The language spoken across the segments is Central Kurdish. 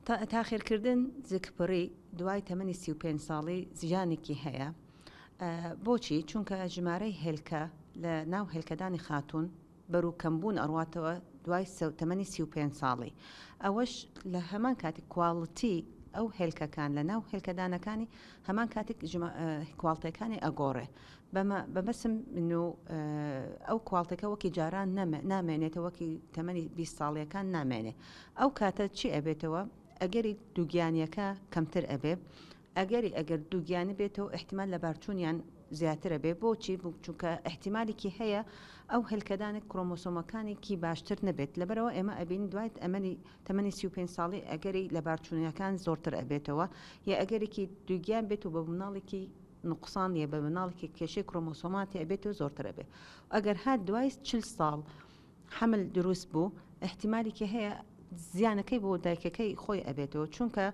تاخیرکردن زگپڕی دوای تەمەنی سی و پێنج ساڵی زیانێکی هەیە بۆچی چونکە ژمارەی هێلکە لە ناو هێلکەدانی خاتون بەرو کەمبوون ئەڕاتەوە دوای تەمەنی سی و پێنج ساڵی ئەوەش لە هەمان کاتی کوالڵتی ئەو هێلکەکان لە ناو هێلکەدانەکانی هەمان کاتێک کوالتەکانی ئەگۆڕێ بەمە بەمەسم من و ئەو کوالتەکە وەکی جاران نەمە نامێنێتە وەکی تەمەنی بیست ساڵیەکان نامێنێ ئەو کاتە چی ئەبێتەوە ئەگەری دووگیانیەکە کەمتر ئەبێ ئەگەری ئەگەر دووگیانی بێتەوە احتیمال لە بارچوونیان زیاترە بێ بۆچی بچووکە احتیمالێکی هەیە ئەو هەلکەدانی کرۆمۆسۆمەکانێکی باشتر نەبێت لەبەرەوە ئێمە ئەبین دوایت ئەمەنی تەمەنی 35 ساڵی ئەگەری لە بارچوونیەکان زۆرتر ئەبێتەوە یا ئەگەرێکی دووگیان بێت و بە مناڵێکی نوقسان یە بە مناڵ کە کێشەی کرۆمۆسۆماتی ئەبێت و زۆرتر ئەبێت ئەگەر هات دوای چل ساڵ حەمل دروست بوو احتیمالێکی هەیە زیانەکەی بۆ دایکەکەی خۆی ئەبێتەوە چونکە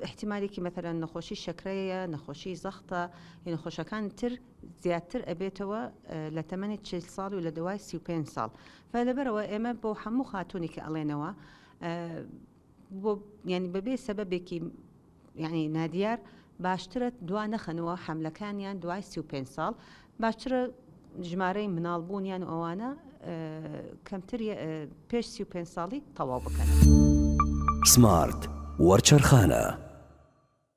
احتیمالێکی مەتەرەن نەخۆشی شەکرەیە نەخۆشی زەختە نەخۆشەکان تر زیاتر ئەبێتەوە لە تەمەنی چ ساڵ و لە دوای سی5 ساڵ فە لەبەرەوە ئێمە بۆ هەموو خاتونێکی ئەڵێنەوە بۆ یانی بەبێ سەبەبێکی یانی نادیار باشترە دوا نەخەنەوە حەملەکانیان دوای سی و پێنج ساڵ باشترە ژمارەی مناڵ بوونیان و ئەوانە کەمتر پێش سی و پێنج ساڵی تەواو بکەن. سمارت وەرچەرخانە.